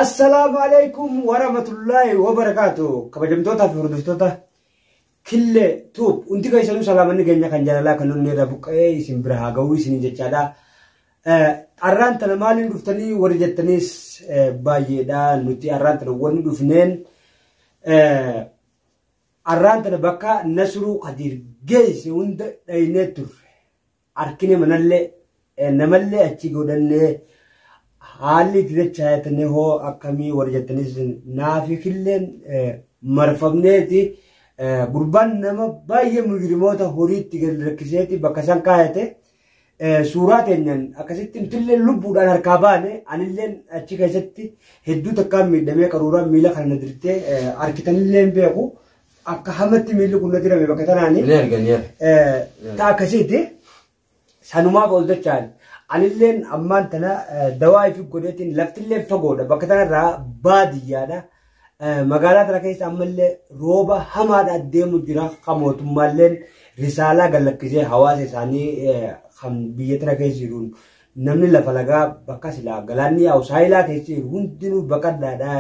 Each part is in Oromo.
Assalaamu alaikum warahmatullaahi wabarakaatu kabajamtootaa fi hordoftoota killee tuub hundi keessanuu salaamanni keenya kan jaalalaa kan onnee irraa buqqa'ee isin bira haa ga'uu isiniin jechaadha. Arraan tana maaliin dhuftanii warri jettaniis baay'eedha nuti arraan tana wanni dhufneen arraan tana bakka nasruu kadiir geesse hunda dhaynee turre. Arkine manallee namallee achi godhannee haalli itti dachaayatanii hoo akkamii warri jettanis naafi killeen marfamneeti gurbaan nama baay'ee mujrimoota horiitti gadi rakkiseeti bakka isaan kaayate suuraa teenyaan akkasitti nutillee lubbuudhaan harkaa baane anilleen achi keessatti hedduu takkaan miidhamee qaruuraan miila kana na dirtee arkitanillee beeku. Akka hamatti miilli kun na dirame bakka tanaani. Ni arga ni arga. Eh, ta akkasiiti sanumaaf ol dachaan anilleen ammaan tana eh, dawaa ifi godheetiin laftillee fagoodha bakka tanarraa baadiyyaadha Eh, magaalaa tana keessa ammallee rooba hamaadha deemu jira kan mootummaalleen risaalaa gallakkisee hawaasa isaanii eh, kan biyya tana keessa jiruun Namni lafa lagaa bakka silaa galaanni yaa'u saayilaa keessa jiru hundinuu baqadhaadhaa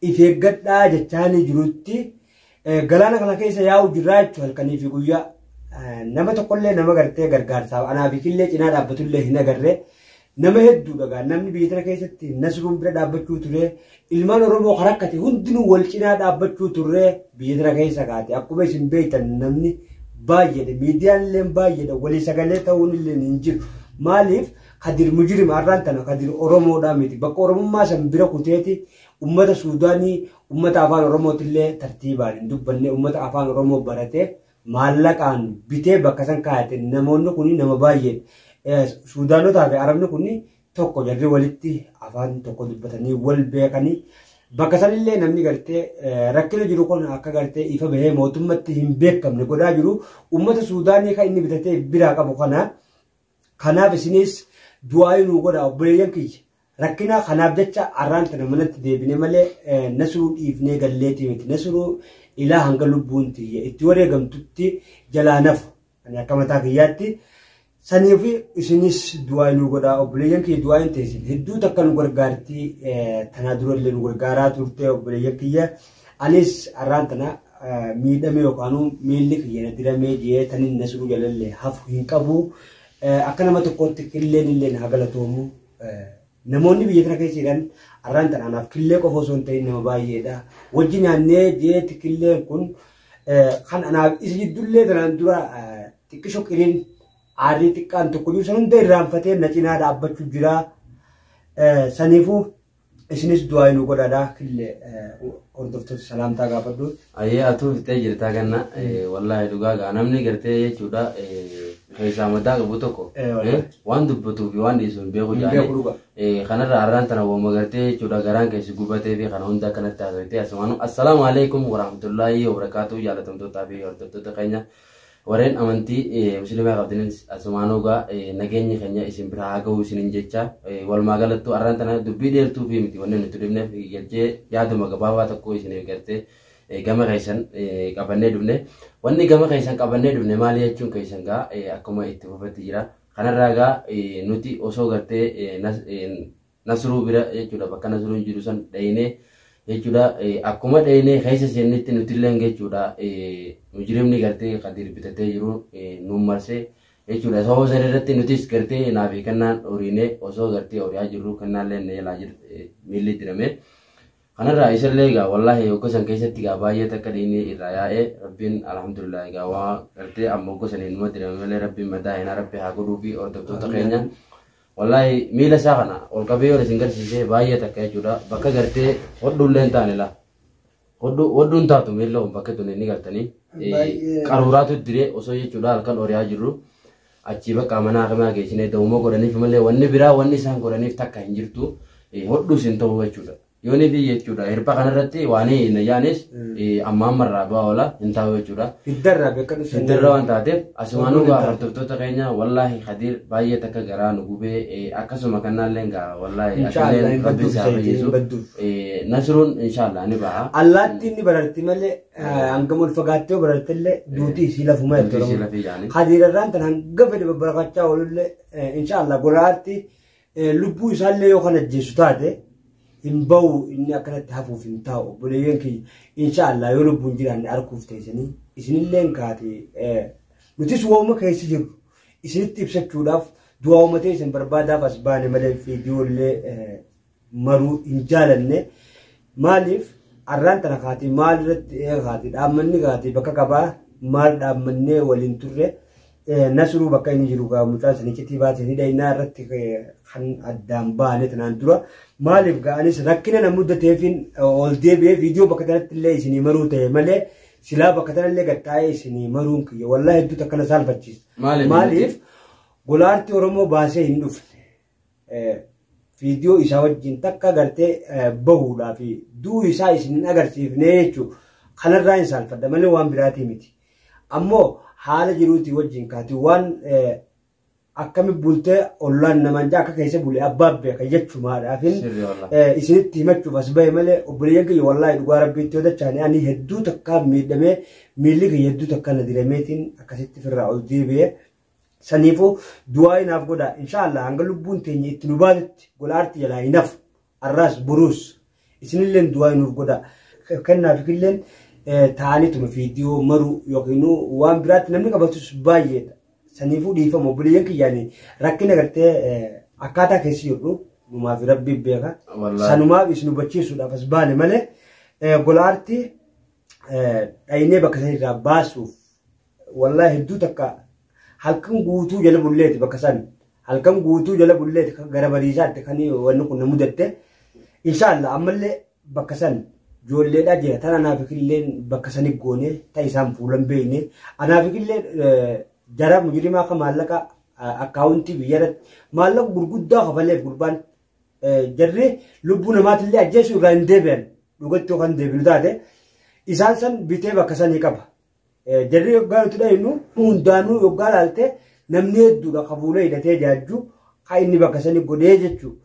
if eeggadhaa jechaanii jirutti galaana kana keessa yaa'u jirraa jechuun halkanii fi guyyaa nama tokkollee nama gartee gargaarsaaf anaa fi killee cinaa dhaabbatullee hin agarre nama hedduudha gaa namni biyya tana keessatti nasruun bira dhaabbachuu ture Ilmaan Oromoo ka rakkate hundinuu wal cinaa dhaabbachuu turree biyya tana keessa kaate akkuma isin beektan namni baay'eedha miidiyaan illee baay'eedha walii sagalee ta'uun illee hin jiru maaliif kadir mujirima har'aan tana kadir Oromoodhaa miti bakka Oromummaa san bira kuteeti ummata Suudaanii ummata afaan Oromooti illee tartiibaan hin dubbanne ummata afaan Oromoo baratee maallaqaan bitee bakka san kaayate namoonni kun nama baay'eedha Suudaanotaa fi Arabni kun tokko jarri walitti afaan tokko dubbatanii wal beekanii bakka sanillee namni gartee rakkina jiru kun akka gartee ifa bahee mootummatti hin beekamne godhaa jiru uummata suudaanii kan inni bitatee biraa qabu kana kanaaf isinis du'aa nuu godha obboleeyyan kiyya rakkina kanaaf jecha arraan tana manatti deebine malee nasruu dhiifnee galleetii miti nasruu ilaa hanga lubbuun tiyya itti wareegamtutti jalaa nafu Ani akka mataa kiyyaatti sanii fi isinis du'aa nu godhaa obboleeyyan kiyya du'aa hin teessin hedduu takka nu gargaarti tanaa dura illee nu gargaaraa turte obboleeyyan kiyya anis arraan tana miidhame yookaan miilli kiyya na diramee jee tanin na siruu jalalle hafu hin qabu akka nama tokkootti illeen illeen haa galatoomu Namoonni biyya kana keessa jiran arraan tan anaaf killee qofa osoo hin ta'in nama baay'eedha. Wajji nyaannee jeetti killeen kun kan anaaf isa jiddullee tanaan dura xiqqisho qiriin aarrii xiqqaan tokko jiru san hunda irraanfatee na cinaa dhaabbachuu jira. Saniifuu isinis du'aa inuu godhaadha killee hordoftoota salaamtaa gaafadhu. Ayyee atuu fixee jirtaa ganna wallaahi dhugaa gaa namni gartee jechuudha keessaa madaa qabu tokko waan dubbatuu fi waan dhiisu hin beeku jaanii kanarra har'aan tana wama gartee jechuudha garaan keessi gubatee fi kana hunda akkanatti haasawitee asumaan assalaamu alaikum warahmatullaahi wabarakaatu jaalatamtootaa fi hordoftoota keenya Wareen amantii musilimaa qabdaninis asumaan hogaa nageenyi keenya isin biraa haa ga'uu isinin jecha walumaa galattuu arraan tana dubbii dheertuu fi miti wanni nuti dhufneef galchee yaaduma gabaabaa tokko isiniif gartee gama keessan qabannee dhufne wanni gama keessan qabannee dhufne maali jechuun keessan gaa akkuma itti fufetti jira kanarraa gaa nuti osoo gartee Nasruu bira jechuudha bakka Nasruun jiru san dhayinee jechuudha akkuma dhayinee keessa seennetti nutilleen jechuudha mujrimni gartee Kadiir bitatee jiru nu marsee jechuudha sababa sana irratti nutis gartee naa fi kennaan horiinee osoo gartee horiyaa jirru kennaallee na jalaa jir miilli dirame. Kanarraa isallee egaa wallaahi hogga san keessatti egaa baay'ee takka dhiinii irraa yaa'ee rabbiin alhamdulillah egaa waa gartee amma hogga saniin numa dirame malee rabbiin madaa hinaa rabbi haa godhuu fi hordoftoota keenya. Wallaahi miila isaa kana ol qabee yoon isin garsiisee baay'ee takka jechuudha. Bakka gartee hodhuullee hin taane laa. Hodhuu hin taatu miila kun bakka tuni ni gartanii. Qaruuraatu diree osoo jechuudha halkan oriyaa jirru. Achii bakka mana hakamaa geessinee da'ummoo godhaniif malee wanni biraa wanni isaan godhaniif takka hin jirtu. Hodhuus hin ta'u jechuudha. Yoonii fi jechuudha. Hirpha kanarratti waan hin ayyaanis amma amma irraa bu'aa oola hin taa'u jechuudha. Hiddarraa bakka dhufu. Hiddarra waan taateef asumaan dhugaa hordoftoota keenya wallaahi Kadiir baay'ee takka garaa nu gubee akkasuma kannaallee gaa wallaahi atillee rabbi isaa fayyisu nasruun inshaallah ni ba'a. Allaatti inni bararti malee hangam ol fagaattee barartillee duutii isii lafuma jechuudha. Kadiirarraan tan hanga fedhe babbarakachaa oolullee inshaallah golaatti. Lubbuu isaallee yoo kan ajjeesu taate hin ba'u inni akkanatti hafuuf hin taa'u obboleeyyan kiyya inshaallah yoo lubbuun jiraanne arguuf teessanii isinilleen kaate nutis waa'uma keessa jirru isinitti ibsachuudhaaf du'aa'uma teessan barbaadaaf as baane malee viidiyoollee maruu hin jaalanne maaliif arraan tana kaatee maal irratti kaatee dhaabmanni kaatee bakka qabaa maal dhaammannee waliin turre Nasruu bakka inni jiru gaa mucaa isin iccitii baate ni dhaynaa irratti kan addaan baane tanaan dura maaliif gaa anis rakkina na mudateefin ol deebi'ee viidiyoo bakka tanatti illee isinii maruu ta'e malee silaa bakka tanallee gattaa'ee isinii maruun kiyya wallaahi hedduu takkana saalfachiisa. Maaliif? Maaliif golaartii Oromoo baasee hin dhufne. viidiyoo isaa wajjin takka gartee bahuudhaa fi du'uu isaa isin hin agarsiifnee jechuudha. Kanarraa hin saalfadha malee waan biraatii miti. Ammoo haala jiruutii wajjin kaati waan akkami bultee ollaan namaan jaa akka keessa bule abbaa beeka jechumaadhaaf isinitti himachuuf as bahe malee obboleeyyan kiyya wallaahi dhugaa rabbiitti yoo dachaane ani hedduu takkaa miidhamee miilli kiyya hedduu takkaa na dirameetiin akkasitti firraa ol deebi'ee Saniifuu du'aa inaaf godhaa. Inshaallah hanga lubbuun teenya itti nu baatutti gola aarti jalaa inaf. Arraas boruus isinilleen du'aa inuuf godhaa. Kennaaf illeen ta'aniituma viidiyoo maruu yookiin waan biraatti namni qabatus baay'eedha. Saniifuu dhiifama obboleeyyan kiyyaanii rakkina gartee akkaataa keessa jirru numaaf rabbi beeka. Sanumaaf isin hubachiisuudhaaf as baane malee gola aarti dhaynee bakka sanirraa baasuuf Wallahi hedduu takka halkan guutuu jala bulleeti bakka san halkan guutuu jala bulleeti kan gara bariisaatti kan wanni kun na mudatte inshaallah ammallee bakka san joolleedhaa jira tan anaaf illee bakka sani goone ta isaan fuulan beeyne anaaf illee jara mujrimaa ka maallaqa akkaawuntii biyyarratti maallaqa gurguddaa kafaleef gurbaan jarri lubbuu namaatillee ajjeesuu irraa hin deebi'an dhugatti yookaan deebinu taate isaan san bitee bakka sanii qaba Jarri yoggaa nuti dhaynu hundaanuu yoggaa laalte namni hedduudha ka fuula hidhatee jaajju ka inni bakka sani godhee jechuudha.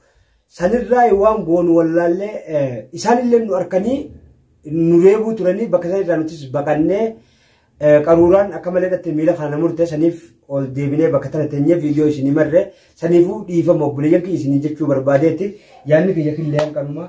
Sanirraa waan goonu wallaallee isaanillee nu harkanii nu reebuu turanii bakka sanirraa nutis baqannee qaruuraan akka malee dhatte miila kana murte saniif ol deebinee bakka tana teenyee viidiyoo isinii marre saniifuu dhiifama obboleeyyan kiyya isinii jechuu barbaadeeti yaadni kiyya killee hanqanuma.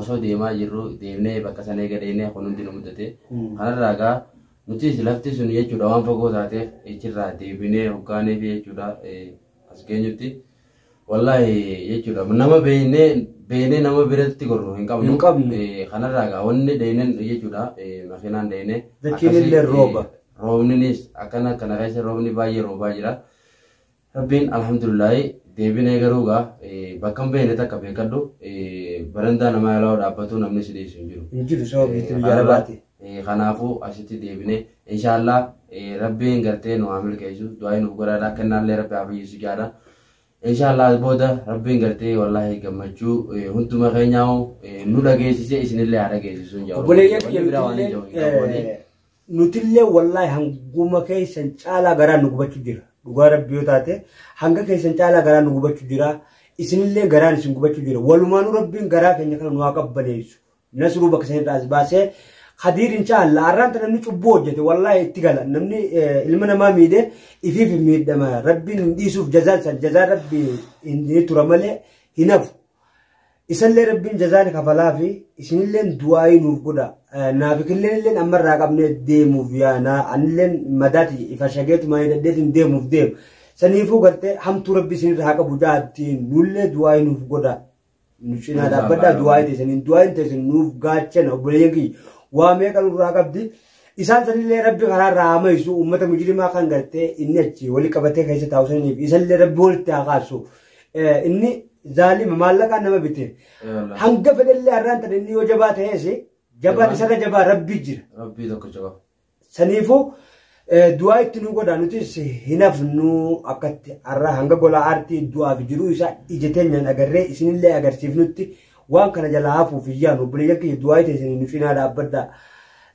osoo deemaa jirru deemnee bakka sana eega dheenee kun hundi nu mudate kanarraa egaa nutis lafti sun jechuudha waan fagoo taateef echirraa deebinee hoggaanee fi jechuudha as geenyutti wallaahi jechuudha nama beeknee beeknee nama biratti gorru hin qabnu Hin qabnu. Eh, kanarraa egaa wanni dheeneen jechuudha eh, makiinaan dheenee Dachiin akkasii, illee eh, rooba. roobninis akkana kana keessa roobni baay'ee roobaa jira. Rabbiin alhamdulillahi deebinee garuu gaa bakka hin beekne takka beekadhu barandaa namaa yaalaa dhaabbatuu namni si dhiisu hin jiru. Hin jiru sababa biitti biyya alaati. Kanaafuu asitti deebinee inshaallah rabbiin gartee nu haa milkeessu du'aa nuuf godhaadha kennaallee rabbi haa fayyisu jaadha. Inshaallah booda rabbiin gartee wallaahi gammachuu hunduma keenyaa nu dhageessise isinillee haa dhageessisu. Obboleeyyan kiyya Nutillee wallaahi hanguma keessan caalaa garaa nu gubachuu jira. Dhugaa rabbi yoo taate hanga keessan caalaa garaa nu gubachuu jira. Isinillee garaan isin gubachuu jira. Walumaanuu rabbiin garaa keenya kana nu haa qabbaneessu. Nasruu bakka sanirraa as baasee Khadiir inshaallah arraan tana namni cubbuu hojjete wallaahi itti gala namni ilma namaa miidhe ifiif hin miidhama rabbiin hin dhiisuuf jazaan san jazaa rabbi hin tura malee hin hafu. Isallee rabbiin jazaa ni kafalaafi isinilleen du'aayii nuuf godha. Naafikilleen illeen amma irraa qabnee deemuuf yaana anilleen madaati ifa shageetuma hidhadheetiin deemuuf deemu. Saniifuu gartee hamtuu rabbi isinirra haa qabu ja'attiin nullee du'aayii nuuf godha. Nu cinaa dhaabbadhaa du'aayii teessaniin du'aayiin teessan nuuf gaachana obboleeyyan kiyya waa meeqa nurraa qabdi. Isaan sanillee rabbi karaa irraa haa mayisu uummata mujrimaa kan gartee inni achi wali qabatee keessa taa'u saniif isallee rabbi walitti haa kaasu. Eh, Inni zaalima maallaqaan nama bite. Hanga fedhellee har'aan tan inni yoo jabaa ta'ees jabaan isarra jabaa rabbii jira. Rabbii tokko jaba. Saniifuu eh, du'aa itti nu godha nutis hin hafnu akkatti har'a hanga gola aartii du'aaf jiruu isaa ija teenyaan agarree isinillee agarsiifnutti waan kana jalaa hafuuf hin yaanu obboleeyyan keenya du'aa itti isin nuuf hinaa dhaabbadhaa.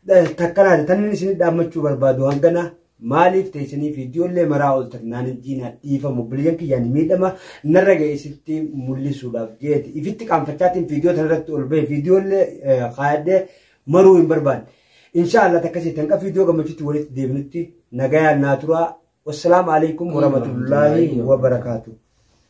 Eh, Takkanaati tan inni isin dhaammachuu barbaadu hangana Maaliif teessanii viidiyoollee maraa ooltan naan hin jiinaa dhiifama obboleeyyan kiyyaan miidhama narra ga'e isinitti mul'isuudhaaf jeeti. Ifitti qaanfachaatiin viidiyoo tanarratti ol bahe viidiyoollee kaayadhee maruu hin barbaanne. Inshaallah takkasii tanqa viidiyoo gammachuutti walitti deebinutti nagayaan naa turaa. Wassalaamu alaikum warahmatullaahi wabarakaatuh.